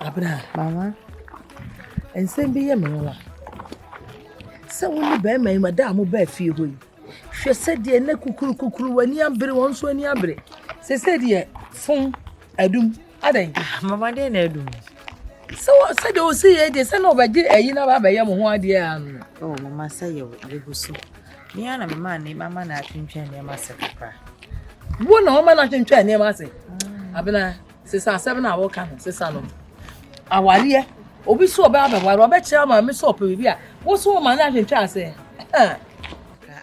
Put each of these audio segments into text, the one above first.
Abena. Mama, nsɛm bi yɛ me nwa. Sɛ wo ne bɛrima yi ma da a mo baa fie hɔ yi, hwɛ sɛ deɛ na kukurukukuru w'ani abere wɔn nso ani abere. Sese deɛ fom adum adɛn. Ah, mama deɛ na adum. Sɛ wɔ sɛ deɛ ɔsi yɛ deɛ sɛ na ɔbɛgye ayi na aba abɛyɛ mo ho adeɛ ano. Oh, mama sɛ yɛ yɛgu so. Me ara na mema ne mama na atwentwɛn nneɛma ase kakra. Wo na ɔma no atwentwɛn nneɛma ase. Mm. Abena. Sesa asɛm no a wɔka no sesa no awareɛ obi so ɔbɛ abɛware ɔbɛkyerɛ ama me sɛ ɔpɛ biribi a wo so ɔma no ahwentwa ase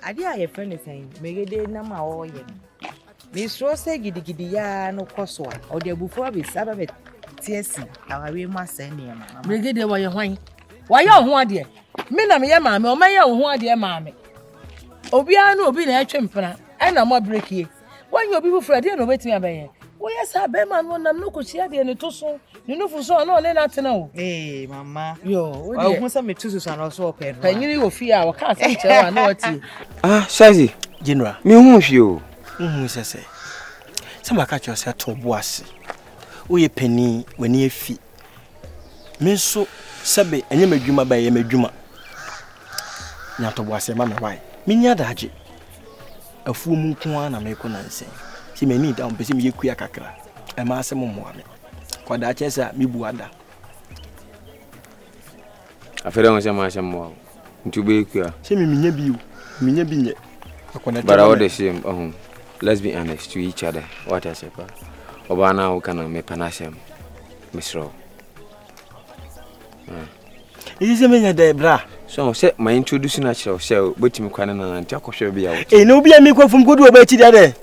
adeɛ a yɛfrɛ no sɛn megede nam a ɔreyɛ no mesuro sɛ gidigidi yaa no kɔ so a ɔde abufuo abɛsi aba bɛte asi awareɛ mu asɛe nneɛma megede wɔyɛ hwan wɔayɛ ɔho adeɛ me na meyɛ maame ɔmɛyɛ ɔho adeɛ maame obiara ne obi na ɛtwe mpena ɛna mɔ brekie Wanyɛ obi foforɔ ɛdeɛ na ɔbɛtumi abɛyɛ. Woyɛ saa bɛrima no nam no kɔhyia deɛ ne to so ne nufu so ɔno ɔne no atena o. Ee mama. Yoo. Ɔhu sɛ metu susu anɔ so ɔpɛ no. Panyini wɔ fie a wɔka asɛm kyerɛ a na watie. Ah, Shazi. General. Mehu hwee o. Wohu sɛ sɛ sɛ maka kyerɛ sɛ to bo ase. Woyɛ panin, w'ani afi. Me nso sɛbe ɛnyɛ m'adwuma bɛyɛ ɛyɛ m'adwuma nya ntɔboaseɛ ma me wae menni adagye afuo mu nko ara na mekɔ nansɛ sɛ m'ani da mpɛ sɛ meyɛ kua kakra ɛma asɛ mo mmoa me kɔdaa kyɛ sɛ a mebu ada afei dɛ ho sɛ mo asɛ mmoa nti wobɛyɛ kua. Sɛ me menya bi o, menya bi nyɛ. But all the same, um, let's be honest to each other. What I say, pa. Oba na wo kana me pana sem. Misro. Ah. Is this me de bra? So say my introduce na chira say betimi kwane na ntia kohwe bia wo. Eh, no bia me kwafum kodu oba chi dia de.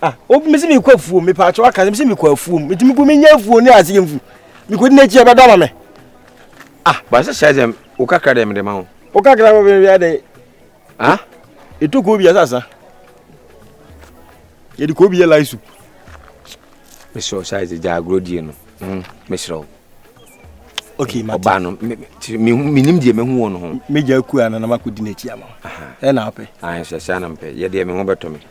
Ah, obi mesi mi kɔ afuom, mi paatwa waka sɛ mesi mi kɔ afuom, nti mi kɔ mi nya afuo ne aseɛ nfu, mi kɔ di n'akyi a ɛbɛdɔ ama mi. Ah. Baasa hyɛ sɛ o kakra dɛ mi de ma o. O kakra bɛ bɛ dɛ. Ah. Etu kɔ obi yɛ sasa. Yɛ de kɔ obi yɛ lai soup. Mesrɛ o saa ɛdze gya agorɔ die no. Hmm, Mesrɛ o. Okay, mate. Ɔbaa no, menim deɛ mahu wɔ no ho. Megya akua no na makɔdi n'akyi ama. Ɛna wopɛ? Ayɛ sɛ saa na mpɛ. Yɛ deɛ me ho bɛtɔ me.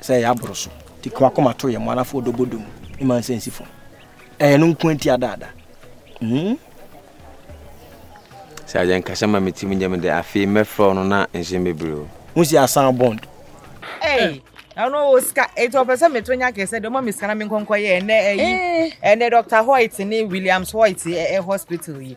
sɛ ɛyɛ aboro so nti ko akoma to yɛ mo anafo ɔdɔ bɔ dum ne ma nsɛ nsi fam ɛyɛ no nko nti adaada mm. sɛ agye nkasa ma metim nyɛ me dɛ afei mɛfrɛ no na nhyɛ bebree o ho si asan bond Hey, ɛno wɔ sika eti ɔpɛ sɛ meto nya kɛsɛ de ɔma me sika na menkɔnkɔ yɛ ɛnɛ ɛyi ɛnɛ Dr. Hoyt ne Williams Hoyt ɛ hospital yi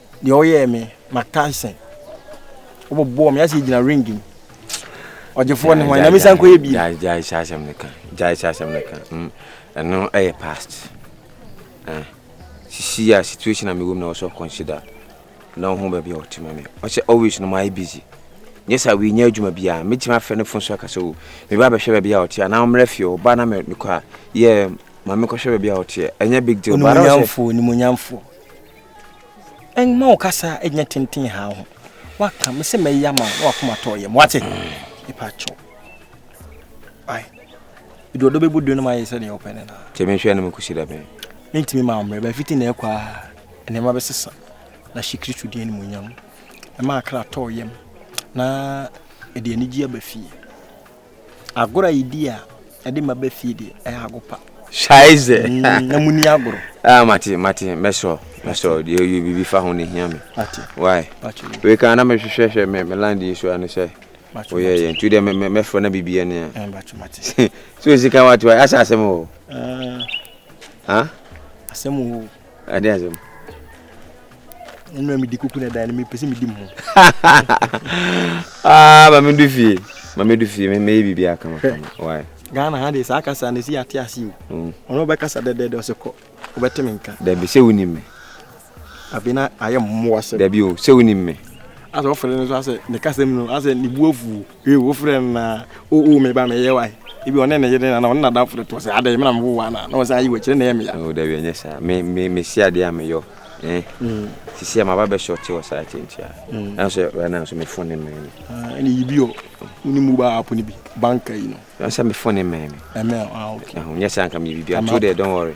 Deɛ ɔyɛɛ me Mark Tyson ɔbɔbɔɔ me ayɛ sɛ yɛgyina ring mu ɔgyefoɔ ne hwan na mesan kɔyɛ bie gyae hyɛ asɛm no ka gyae hyɛ asɛm no ka hmm, ɛno ɛyɛ past eh, sisi a situation a mewɔ mu na wɔsɔ consider na wo ho baabi a wɔte ma me ɔsɛ always no maayɛ busy nyɛ sɛ wenya adwuma biaa mɛtumi afrɛ no fo so aka sɛ o oh, meba bɛhwɛ baabi a wɔte a na wommrɛ fie ɔba na mekɔ a yɛ ma mekɔhwɛ baabi a wɔteɛ ɛnyɛ big deal baara sɛ Mma wo kasa nyɛ tenten ha ho. Waka me sɛ mɛyɛ ama na wakoma tɔ yɛ. Wate? Nipa kyɛw. Ai. Edu ɔdɔ bɛbu dun no ma yɛ sɛ ne ɔpɛ ne na. Kyɛ me hwɛ no me kusi da bɛn. Me ntimi ma mmerɛ ba fiti na ɛkɔ a nneɛma bɛsesa na hyɛ Kristo din animuonyam. Ɛma akra tɔ yɛm na ɛde anigye aba fie. Agorɔ a yɛdi a ɛde ma bɛ fie deɛ ɛyɛ ago pa. Scheiße. Mm, na muni agorɔ. Ah, mate, mate, mɛsɔ, mɛsɔ, deɛ ɔyɛ biribi fa ho ne hia me. Mate. Why? Mate. Wei kan na mehwehwɛ hwɛ me me land yi so ano sɛ. Mate. Oyɛ yɛ ntu deɛ me me mɛfrɛ na biribi ani a. Eh, mate, mate. So sika wa to asɛ asɛm o. Ah. Ha? Asɛm o. Ade asɛm. Ɛnna medi kuku na dan no mepɛ sɛ medi mu. Ah, ma medu fie. Ma medu fie. Mɛyɛ biribi aka ma kama. Why? Ghana ha de saa kasa no si ate ase o. Mm. Ɔno bɛkasa dɛdɛɛdɛ ɔsɛ kɔ. Wobɛte me nka. Dabi sɛ wonim me. Afei na ayɛ mmoa sɛ. Dabi o, sɛ wonim me. Asɛ ɔfɛre no so asɛ ne kasa mu no asɛ ne bu afuo. Ew wo frɛ no naa oh oh me ba me yɛ wai Ebia ɔne ne yere anaa ɔne nadamfo no toɔ sɛ adɛn me na me wo wo anaa na ɔsan yi wo akyi ne na ɛyɛ me ya. Oh dabi ɛnyɛ saa me me me si adeɛ a me yɔ eh Sisi a maba bɛ shorte wɔ saa akyi nti ah Ɛna nso right now nso me phone ne mmɛn me. Ah ɛna yi bi ɔ wo ne mobile app no bi bank ayi no. Ɛna sɛ me phone ne mmɛn me. Ɛmmɛn ah okay. Ɛho nyɛ saa nka me yɛ biribi a to there don't worry.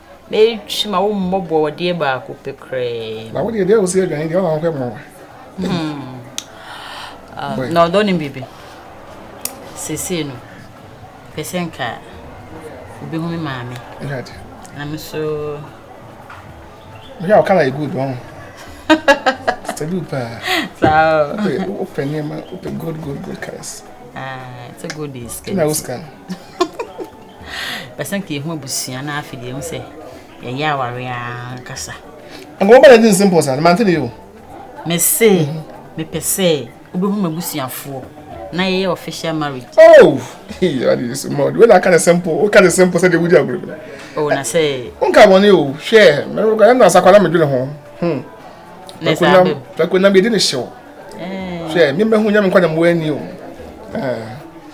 na ɛtwi ma wo mmɔ bɔɔdeɛ baako pɛ koraa. Na wo deɛ deɛ a wosi adwane deɛ ɔna wohwɛ mmoa. Hmm. Uh, na ɔdɔ ne biribi. Sesei no, pɛ sɛ nka obehu me maame. Na me so. Wohwɛ a ɔkala yɛ good ɔn. Stabil paa. Saa. Wopɛ nneɛma, wopɛ good good good cars. Ah, it's a good day. Kina wo scan. Bɛsan ka yɛho abusua na afei deɛ ɛhu sɛ yɛyɛ aware ankasa. Nka wɔbɛ na di nse mpɔ saa no mante ne yɛ o. Mese mepɛ sɛ wobɛhu m'abusuafoɔ na yɛyɛ official marriage. Oh, ade yɛ so ma ɔde wɛna aka ne simple woka ne simple sɛdeɛ wodi agorɔ bi. Oh, na sɛ. Wonka bɔne o hwɛ mɛrɛkɔ ɛna asakwa na medwene ho. Hmm. Na sɛ abɛm. Pɛkɔ nam yɛdi ne hyew. Hwɛ memmɛhu nyame nkwa na mmoa ani o.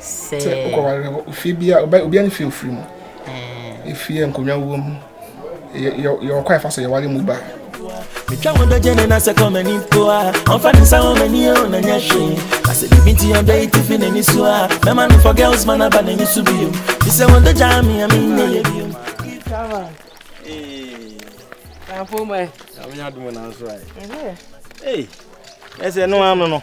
Sɛ wokɔware hɔ, ofie bia obia ne fie ofiri mu. Efie nkonnwa wɔ mu. Yɛwɔ kwan fa so yɛware mu ba. Metwa wɔn dɔ gyene na sɛ kɔ m'ani mpo a ɔmfa ne nsa wɔ m'ani o na nyɛ hwee na sɛ biribi nti ɔdɔ yi tifi n'ani so a mɛma no for girls man aba n'ani so bio te sɛ wɔn dɔ gyaa me a menyɛ yɛ bio Hey, yes, no, no, no.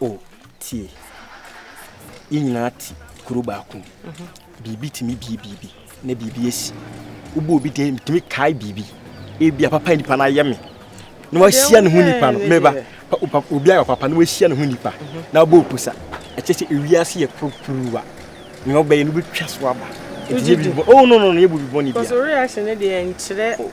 O, tie! Yɛn nyinaa te kuro baako mu. Biribi tumi bie biribi, na biribi asi. Wobɔ obi din, metumi kae biribi. Ebi a papa nipa no ayɛ me. Na wahyia ne ho nipa no, meba. Obi ayɛ papa na wahyia ne ho nipa. Na wabɔ opusa. Ɛkyɛ sɛ ewiase yɛ kurukuruwa. Nea ɔbɛyɛ no bɛtwa so aba. Ɛti yɛ biribi bɔ. Oh, no, no, no, yɛ biribi bɔ ne bia. Kɔsɔ reaction ne deɛ nkyerɛ. Oh.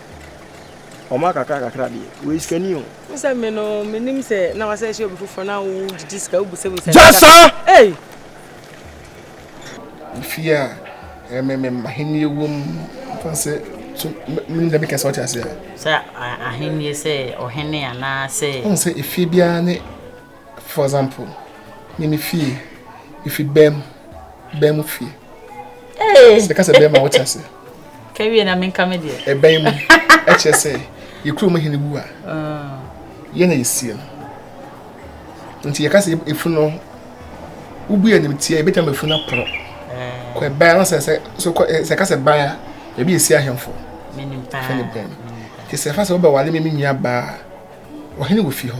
Ɔma kakra kakra deɛ, wei sika ni o. Wo sɛ me no, me nim sɛ na wa sɛ ɛhyɛ obi foforɔ na wo gyigyi sika, wo busa busa. Gya saa! Ei! Efie a ɛmɛ me ahenni wɔ mu, mfa sɛ so me nim dɛ me kɛse ɔte ase a. Sɛ ahenni sɛ ɔhene anaa sɛ. Ɔn sɛ efie biara ne For example, me me fie, me fi bɛm, bɛm mu fie. Ee. Sɛ kasa bɛm a wɔte ase. Kawie na menka me deɛ. Ɛbɛn mu, ɛkyɛ sɛ, yɛ kuro mu hene wu a, ah. yɛ na yɛsie no. Nti yɛka sɛ efu no, wobu yɛ nim tia, ebɛtwa ma efu no aporɔ. Eh. Kɔ ɛban no sɛ sɛ, so kɔ, eh, sɛ kasa ban a, ebi esi ahemfo. Menim paa. Fɛ ne bɛn. Nti sɛ fa sɛ wobɛwale me me nua baa, ɔhene wɔ fi hɔ.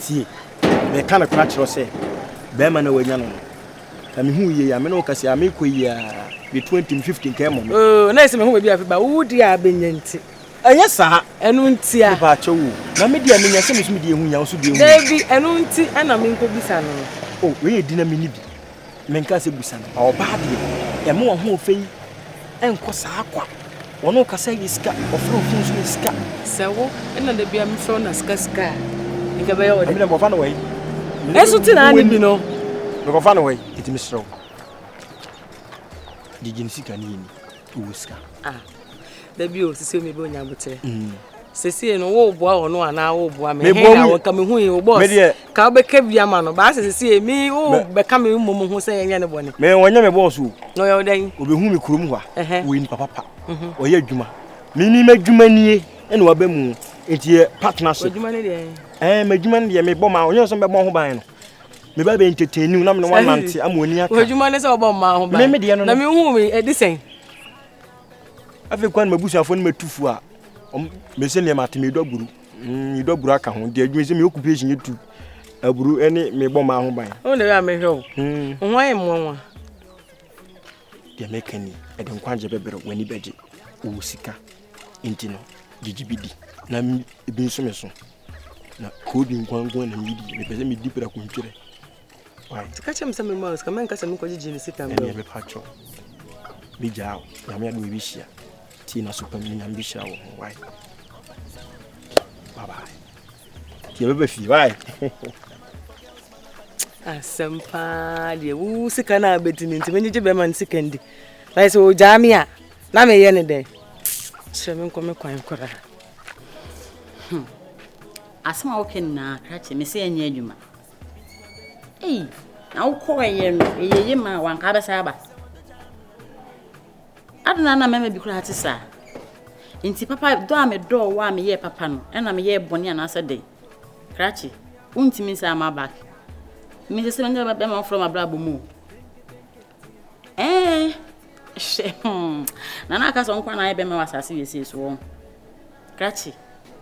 Tie, mereka nokorɛ akyerɛ wo sɛ, barima no a wanya no no, ka me ho yie a me ne wo ka sei a, merekɔ yi ara, deɛ twenty, fifty nka ɛmmɔ me. Oo, na ɛsɛ me ho baabi afe ba, wo deɛ a bɛnya nti. Ɛnyɛ saa. Ɛno nti a. Mepa akyɛw o, na me deɛ a menya sɛ me nso me deɛ ɛho hia, wo nso deɛ ɛho hia. Dabi, ɛno nti na menkɔbisa no no. Oo, wei yɛ di na menni bi, Menkaa sɛ, Busa no. Ɔbaa deɛ, ɛmma w'ahoɔfɛ yi nkɔ saa kwa. Wɔne wo kasa yɛ sika, wɔfrɛ wo fon nso yɛ sika. Sɛ wo na da biara mefrɛ wo na sika sika a, nka ɛbɛyɛ wo dɛ. Ɛmi na mekɔfa no wɔ yi. Ɛso te na ne bi no. Mekɔfa no wɔ yi, ɛti mesrɛ wo. Gyegye ne sika ne yɛ ni. wɔ sika. Ah, da bi o sisi o mebe onya botere. Mm. Sisi no wo boa wo no ana wo boa me. Me boa mu. Ka me hu yi wo boss. Me de. Ka be ka bi ama no. Ba sisi me wo be ka me mu mu ho se yenye ne bone. Me wonya me boss o. No yo den. Obe hu me kurom hwa. Wo ni papa pa. Mhm. Oye adwuma. Me ni me adwuma nie e no aba mu. Enti partnership. Adwuma ne de. Eh, me adwuma ne de me bɔ ma. Onye so me bɔ ho ban no. Me ba bɛ entertain na me ne wɔn nante ama wɔn ani aka. Adwuma ne sɛ wɔbɔ mmaa ho ban. Me me deɛ no no. Na me hu me ɛdi sɛn. Afei kwan ma busuafo no ma tu fo a. Wɔn me sɛ nneɛma te me dɔ aburu. Mm, dɔ aburu aka ho. Deɛ adwuma sɛ me occupation yɛ tu aburu ɛne me bɔ mmaa ho ban. Wɔn na yɛ a me hwɛ o. Mm. Wɔn ayɛ mmoa nwa. Deɛ mɛka ni ɛde nkwagye bɛbrɛ wɔn ani bɛgye wɔ sika. Enti no, gyigye bi di, na ebi nso me so. Na koodi nko ara nko ara na midi. Mepɛ sɛ midi prako ntwerɛ. Wai. Nti ka kyerɛ me sɛ memmɔ wo sika, mɛnka sɛ mekɔgyegye ne sika mmerɛ wo. Ɛnneɛ bɛpa kyɛw. Mɛgyaa wo. Nyame adom yɛbɛhyia. Tie n'aso pa mu na Nyame bɛhyira wo ho. Wai. Bye bye. Nti yɛbɛba fie. Wai. Asɛm paa deɛ, wo sika no a bɛdi no nti mɛgyegye bɛrima no sika ndi. Wai sɛ ɔgyaa me a. Na meyɛ no dɛn? Kyerɛ me nkɔ me kwan koraa. Hmm. Asɛm a woka nyinaa kra kyerɛ me sɛ ɛnyɛ adwuma. Ei, na wokɔɔyɛ no ɛyɛ ye ma wanka bɛsa aba. Adena na mɛma bi koraa te saa. Nti papa dɔ a medɔɔ wo a meyɛɛ papa no ɛna meyɛɛ bɔne anaasɛ dɛn? Krakye, wontumi nsa ama back. Mesɛ sɛ mɛnyɛ bɛma wofrɛ m'abrabɔ mu o. Ɛɛ, hwɛ, hmm, na na aka sɛ ɔnko na ayɛ bɛma wɔ asase wesee so wɔn. Krakye,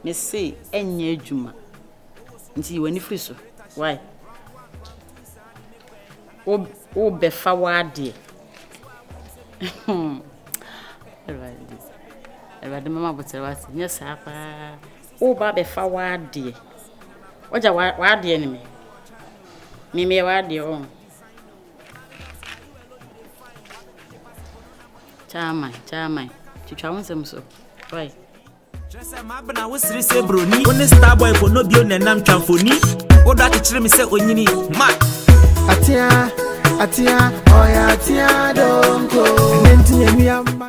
me se ɛnyɛ adwuma. Nti yi w'ani firi so. Why? Wo, wo bɛfa w'adeɛ. Hmm. Awurade, Awurade mɛma abotire wate. Nyɛ saa paa. Wo ba bɛfa w'adeɛ. Wagya w'adeɛ ne me. Me meyɛ w'adeɛ ɔn. Chairman, chairman, twitwa wo nsɛm so. Why? kyerɛ sɛ maabena wo sere sɛ buroni wo ne starboy fo no bio na ɛnam twa mfoni wodɔ akyekyere me sɛ onyini ma atea atea ɔyɛ atea donko ɛnɛ nti yɛnua mma